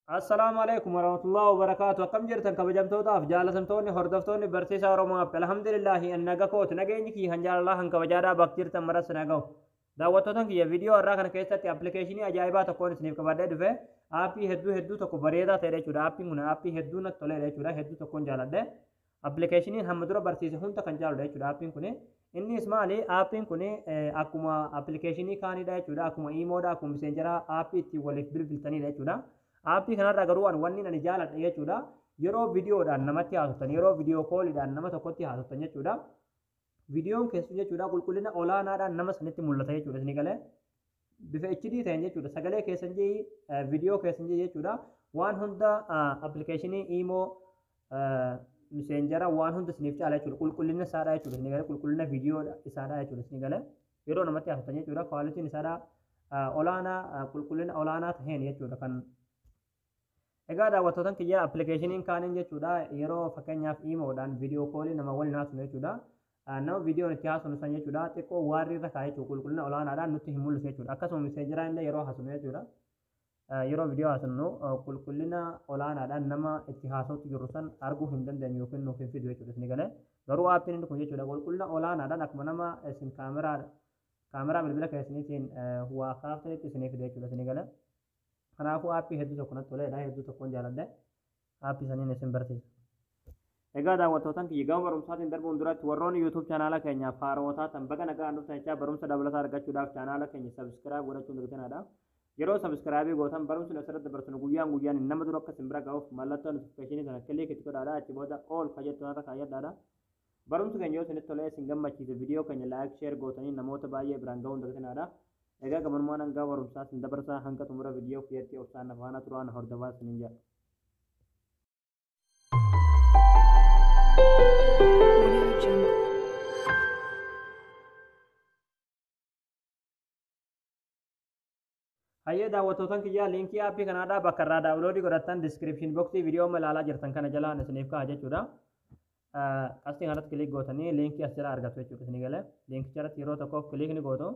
Assalaamu alaikum warahmatullahi wabarakaatu akkam jirtan kabajamtootaaf jaalatamtoonni hordoftoonni barsiisaa Oromoo App alhamdulillahi an naga kooti nageenyi kiyya kan jaalalaa kan kabajaadhaa bakka jirtan maras na gahu daawwattoota kiyya viidiyoo har'aa kana keessatti appilikeeshinii ajaa'ibaa tokkoon isiniif qabadhee dhufe aappii hedduu hedduu tokko bareedaa ta'edha jechuudha aappiin kun aappii hedduu natti toledha jechuudha hedduu tokkoon jaaladhe Appilikeeshiniin hamma dura barsiise hunda kan caaludha jechuudha aappiin kuni. Innis maali? Aappiin kuni akkuma appilikeeshinii kaanidha jechuudha. Akkuma iimoodha, akkuma miseenjaraa aappii ittiin waliif bilbiltanidha jechuudha. Aappii kanarraa garuu an wanni ani jaaladhe jechuudha. Yeroo viidiyoodhaan namatti haasoftan, yeroo viidiyoo kooliidhaan nama tokkotti haasoftan jechuudha. Viidiyoon keessu jechuudha qulqullina olaanaadhaan nama sanitti mul'ata jechuudha isinii galee. bifa HD ta'een jechuudha sagalee keessan ji'i viidiyoo keessan ji'i jechuudha waan hunda appilikeeshinii iimoo miseenjara waan hunda isiniif caala jechuudha qulqullina isaadha jechuudha isin galee qulqullina viidiyoo isaadha jechuudha isin galee yeroo namatti haasoftan jechuudha kwaalitiin isaadha olaanaa qulqullina olaanaa ta'een jechuudha kan Egaa daawwattootan kiyyaa appilikeeshiniin kaaniin jechuudha yeroo fakkeenyaaf iimoodhaan viidiyoo koolii nama waliin haasofnu jechuudha. Nama viidiyoon itti haasofnu san jechuudha xiqqoo waarrii irra kaa'e jechuudha qulqullina olaanaadhaan nutti hin mul'isu jechuudha. Akkasuma miseejiraa illee yeroo haasofnu jechuudha. Yeroo viidiyoo haasofnu qulqullina olaanaadhaan nama itti haasoftu jirru san arguu hin dandeenyu yookiin nuuf hin fidu jechuudha isin galee. Garuu aappiin inni kun jechuudha qulqullina olaanaadhaan akkuma nama isin kaameraa kaameraa bilbila keessaniitiin waa kaaftanitti isinii fida jechuudha isin galee. Kanaafuu aappii hedduu tokko natti toleedha. Hedduu tokkoon jaaladhe. Aappii saniin isin barsiisa. Egaa daawwattootan kiyya gama barumsaatiin darbuun duratti warroonni YouTube chaanaala keenyaaf haarawa taatan baga nagaan dhuftan jechaa barumsa dabalataa argachuudhaaf chaanaala keenya subscribe godhachuun dagtinaadha. Yeroo subscribe gootan barumsi nu asirratti dabarsinu guyyaan guyyaan nama dura akka isin bira ga'uuf mallattoo notification sana click itti godhaadha achi booda all ka jettu nata kaayyadhaadha. Barumsi keenya yoo isinitti tolee isin gammachiise video keenya like share gootanii namoota baay'ee biraan ga'uun dagtinaadha. Egaa gamanumaan hangaa barumsaa isin dabarsaa hanga xumura video kiyyatti obsaan na faana turaa na hordofaa isiniin jedha. Hayyee daawwattootan kiyyaa liinkii aappii kanaadhaa bakka irraa daawuloodii godhattan diskiripshin boksii viidiyoo amma ilaalaa jirtan kana jalaan isiniif ka'a jechuudha. Qastii kanarratti kiliik gootanii liinkii as jala argattu jechuudha isinii galee liinkicha irratti yeroo tokkoof kiliik ni gootu.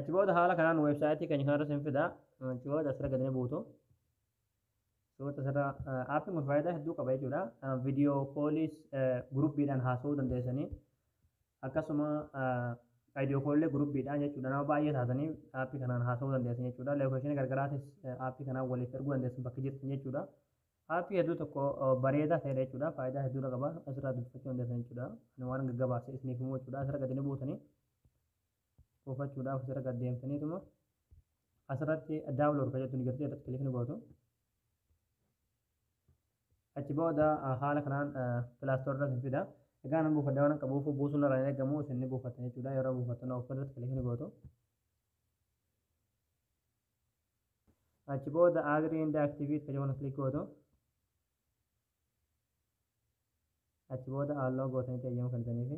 Achi booda haala kanaan weebsaayitii keenya kanarra isin fida. Achi booda asirra gadi ni buutu. Suurota asirra aappiin kun faayidaa hedduu qaba jechuudha. Viidiyoo kooliis guruppiidhaan haasa'uu dandeessanii. akkasuma ideo koollee gurubbiidhaan jechuudha nama baay'ee taatanii aappii kanaan haasa'uu dandeessan jechuudha leekooshinii gargaraatis aappii kanaan waliif erguu dandeessan bakka jirtan jechuudha aappii hedduu tokko bareedaa ta'edha jechuudha faayidaa hedduudha qaba asirraa dubbifachuu dandeessan jechuudha ani waan gaggabaabse isiniif himuu jechuudha asirra gadi ni buutanii buufachuudhaaf asirra gad deemtaniituma asirratti daawunlood kan jettu ni jirti irratti kilikni gootu achi booda haala kanaan pilaastoorri irratti fida. Egaa nan buufadha waan akka buufuu buusuun irraa hin eegamu isin ni buufattan jechuudha. Yeroo buufattan of irratti kilik ni gootu. Achi booda agrii inda aktiviit kan jedhu kilik gootu. Achi booda halluu gootanii eeyyama kennitaniifi.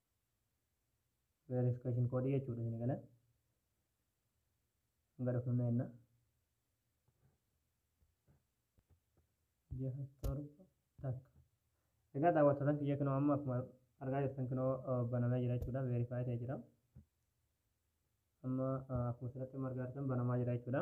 verification code jechuudha isin gala hanga dhufnumna jenna jaha torba takka egaa daawwattootan kiyya kinoo amma akkuma argaa jirtan kinoo banamee jira jechuudha verify ta'e jira amma akkuma asirratti amma argaa jirtan banamaa jira jechuudha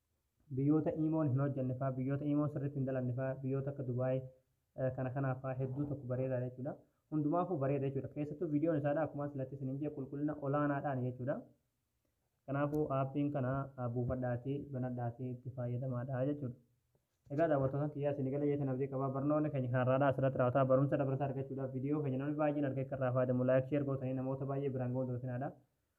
Biyyoota Imoon hin hojjanne fa'aa, biyyoota Imoon sirriitti hin dalanne fa'aa, biyyoota akka Dubai kana kanaa fa'aa hedduu tokko bareedaadha jechuudha. Hundumaafuu bareeda jechuudha. Keessattuu viidiyoon isaadha akkuma silatti isiniin jee qulqullina olaanaadhaan jechuudha. Kanaafuu aappiin kana buufadhaati banadhaati itti fayyadamaadha jechuudha. Egaa daawwattootaan kiyyaa isin galee jeetan abdii qabaa barnoonni keenya kan har'aadhaa asirratti raawwataa barumsa dabalataa argachuudhaaf viidiyoo keenya namni baay'een argee akka irraa fayyadamu laayik sheer gootanii namoota baay'ee biraan ga'uun dagatinaa dha.